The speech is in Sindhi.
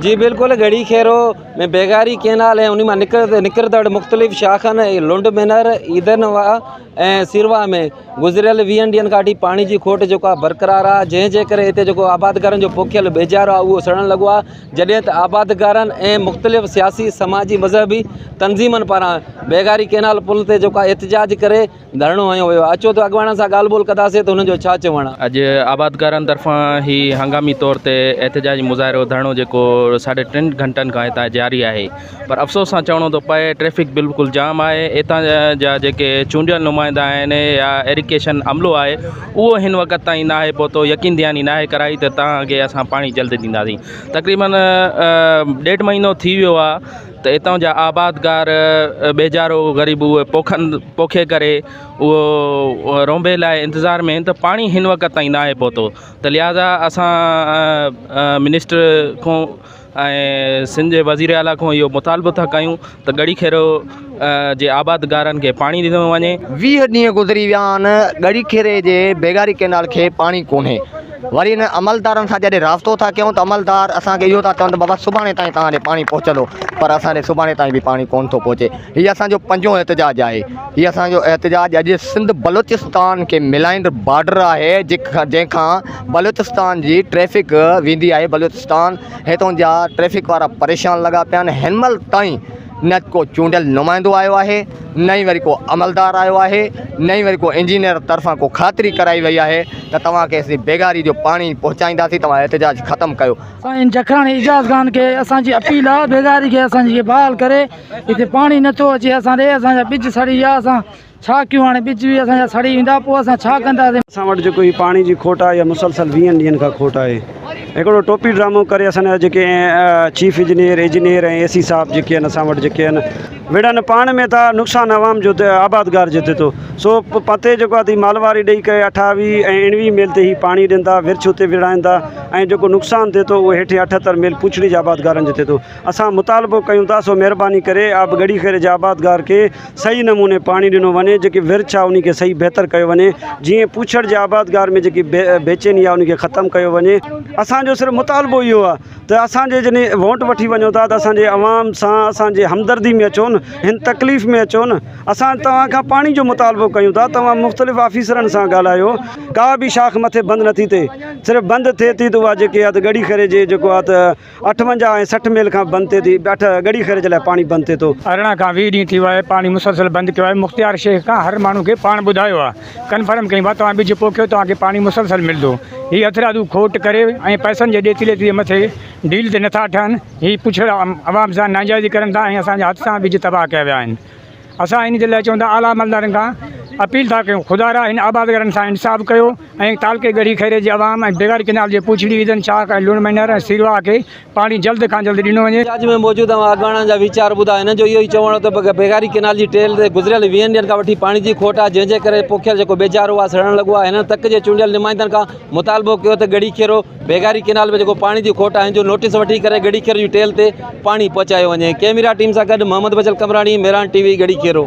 جي بلڪل ڳڙهي کيرو ۾ بيگاري ڪينال ۽ انهي مان نڪرندڙ مختلف شاخن لنڊ مينر، عيدن واء ۽ سيرواء ۾ گذريل ويهن ڏينهن کان وٺي پاڻي جي کوٽ جيڪو آهي برقرار آهي جنهن جي ڪري هتي جيڪو آبادگارن جو پوکيل ٻيجارو آهي اهو سڙڻ لڳو آهي جڏهن ته آبادگارن ۽ مختلف سياسي سماجي مذهبي تنظيمن پاران بيگاري ڪينال پل تي جيڪو آهي احتجاج ڪري ڌرڻو هنيو ويو آهي، اچو ته اڳواڻن سان ڳالهه ٻولهه ڪنداسين ته هنن جو ڇا چوڻ آهي. اڄ آبادگارن طرفان هي هنگامي طور تي احتجاجي مظاهرو ڌرڻو جيڪو ساڍي ٽن گهنٽن کان هتان جاري آهي پر افسوس سان چوڻو ٿو پئي ٽريفڪ بلڪل جام آهي اتان جا جيڪي چونڊيل نمائندا آهن يا ايريڪيشن عملو آهي اهو هن وقت تائين ناهي پهتو يقين دهاني ناهي ڪرائي ته تهان کي اسان پاڻي جلد ڏينداسين تقريبن ڏيڍ مهينو ٿي ويو آهي ته اتان جا آبادگار ٻيجارو غريب اهي پوکن پوکي ڪري اهو رونبي لاء انتظار ۾ ته پاڻي هن وقت تائين ناهي پهتو ته لهٰذا اسان منسٽر کون ۽ سنڌ جي وزير اعلٰي کون اهو مطالبو ٿا ڪيون ته ڳڙهي کيرو جي آبادگارن کي پاڻي ڏنو وڃي ويهه ڏينهن گذري ويا آهن ڳڙهي کيري جي بيگاري ڪئنال کي پاڻي ڪونهي وري انهن عملدارن سان جڏهن رابطو ٿا ڪيون ته عملدار اسان کي اهو ٿا چون ته بابا سڀاڻي تائين توهان ڏي پاڻي پهچندو پر اسان ڏي سڀاڻي تائين به پاڻي ڪونه ٿو پهچي هي اسان جو پنجون احتجاج آهي هي اسان جو احتجاج اڄ سنڌ بلوچستان کي ملائيندڙ بارڊر آهي جنهن کان بلوچستان جي ٽريفڪ ويندي آهي بلوچستان هتون جا ٽريفڪ وارا پريشان لڳا پيا آهن هن مهل تائين نه ڪو چونڊيل نمائندو آيو آهي نه ئي وري ڪو عملدار آيو آهي نه ئي وري ڪو انجنيئر طرفان ڪو خاطري ڪرائي وئي آهي ته توهان کي اسين بيگاري جو پاڻي پهچائينداسين توهان احتجاج ختم ڪيو. سائين جکراڻي اعجاز خان کي اسان جي اپيل آ بيگاري کي اسان جي کي بحال ڪري هتي پاڻي نٿو اچي اسان ڏي اسان جا ٻج سڙي ويا اسان ڇا ڪيون هاڻي ٻج به اسان جا سڙي ويندا پوء اسان ڇا ڪنداسين. اسان وٽ جيڪو هي پاڻي جي کوٽ آهي اها مسلسل ويهن ڏينهن کان کوٽ آهي هڪڙو ٽوپي ڊرامو ڪري اسان جا جيڪي chief engineer engineer ۽ A C صاحب جيڪي آهن اسان وٽ جيڪي آهن وڙهن پاڻ ۾ ٿا نقصان عوام جو آبادگار جي ٿي ٿو سو پتي جيڪو آهي مالواري ڏئي ڪري اٺاوي ۽ اڻوي ميل تي هي پاڻي ڏين ٿا ورڇ اتي وڙهائين ٿا ۽ جيڪو نقصان ٿي ٿو اهو هيٺين اٺهتر ميل پوڇڙي جي آبادگارن جو ٿي ٿو اسان مطالبو ڪيون ٿا سو مهرباني ڪري آب ڳڙهي خير جي آبادگار کي صحيح نموني پاڻي ڏنو وڃي جيڪي ورڇ آ انهي کي صحيح بهتر ڪيو وڃي جيئن پوڇڙ جي آبادگار ۾ جيڪي بيچيني آ انهي کي ختم ڪيو وڃي اسان جو صرف مطالبو اهو آ ته اسان جي جڏهن ووٽ وٺي وڃو ٿا ته اسان جي عوام سان اسان جي همدردي ۾ اچو نه هن تڪليف ۾ اچو نه اسان توهان کان پاڻي جو مطالبو ڪيون ٿا توهان مختلف آفيسرن سان ڳالهايو ڪا به شاخ مٿي بند نٿي ٿئي صرف بند ٿئي ٿي ته اها جيڪي آ ته ڳڙي کري جي جيڪو آ ته اٺونجاهه ۽ سٺ ميل کان بند ٿئي ٿي، اٺ ڳڙي خير جي لاء پاڻي بند ٿئي ٿو. ارڙهن کان ويهه ڏينهن ٿي ويا آهي پاڻي مسلسل بند ٿيو آهي مختيار شيخ کان هر ماڻهو کي پاڻ ٻڌايو آهي ڪنفرم ڪيون آهي توهان ٻج پوکيو توهان کي پاڻي مسلسل ملندو هي هٿرادو کوٽ ڪري ۽ پئسن جي ڏيتي ليتي جي مٿي ڊيل تي نٿا ٺهن هي پڇڙا عوام سان ناجائزي ڪرن ٿا ۽ اسان جا حادثا ٻج تباهه ڪيا ويا آهن اسان ان جي لاء چوندڙ اعليٰ عملدارن کان اپيل ٿا ڪيون خدارا هن آبادگارن سان انصاف ڪيو ۽ تعلقي ڳڙهي خيري جي عوام ۽ بغير ڪئنال جي پوڇڙي عيدن شاخ ۽ لوڻ مهنر ۽ سيرواهه کي پاڻي جلد کان جلد ڏنو وڃي. احتجاج ۾ موجود اوهان اڳواڻن جا ويچار ٻڌا هنن جو اهو ئي چوڻ هو ته بغيري ڪئنال جي ٽيل تي گذريل ويهن ڏينهن کان وٺي پاڻي جي کوٽ آهي جنهن جي ڪري پوکيل جيڪو ٻيجارو آهي سڙڻ لڳو آهي هنن تڪ جي چونڊيل نمائندن کان مطالبو ڪيو ته ڳڙهي خيرو بيگاري ڪينال ۾ جيڪو پاڻي جي کوٽ آهن جو نوٽيس وٺي ڪري ڳڙهي کيرو جي ٽيل تي پاڻي پهچايو وڃي. ڪيميرا ٽيم سان گڏ محمد بچل قمبراڻي، ميران ٽي وي، ڳڙهي کيرو.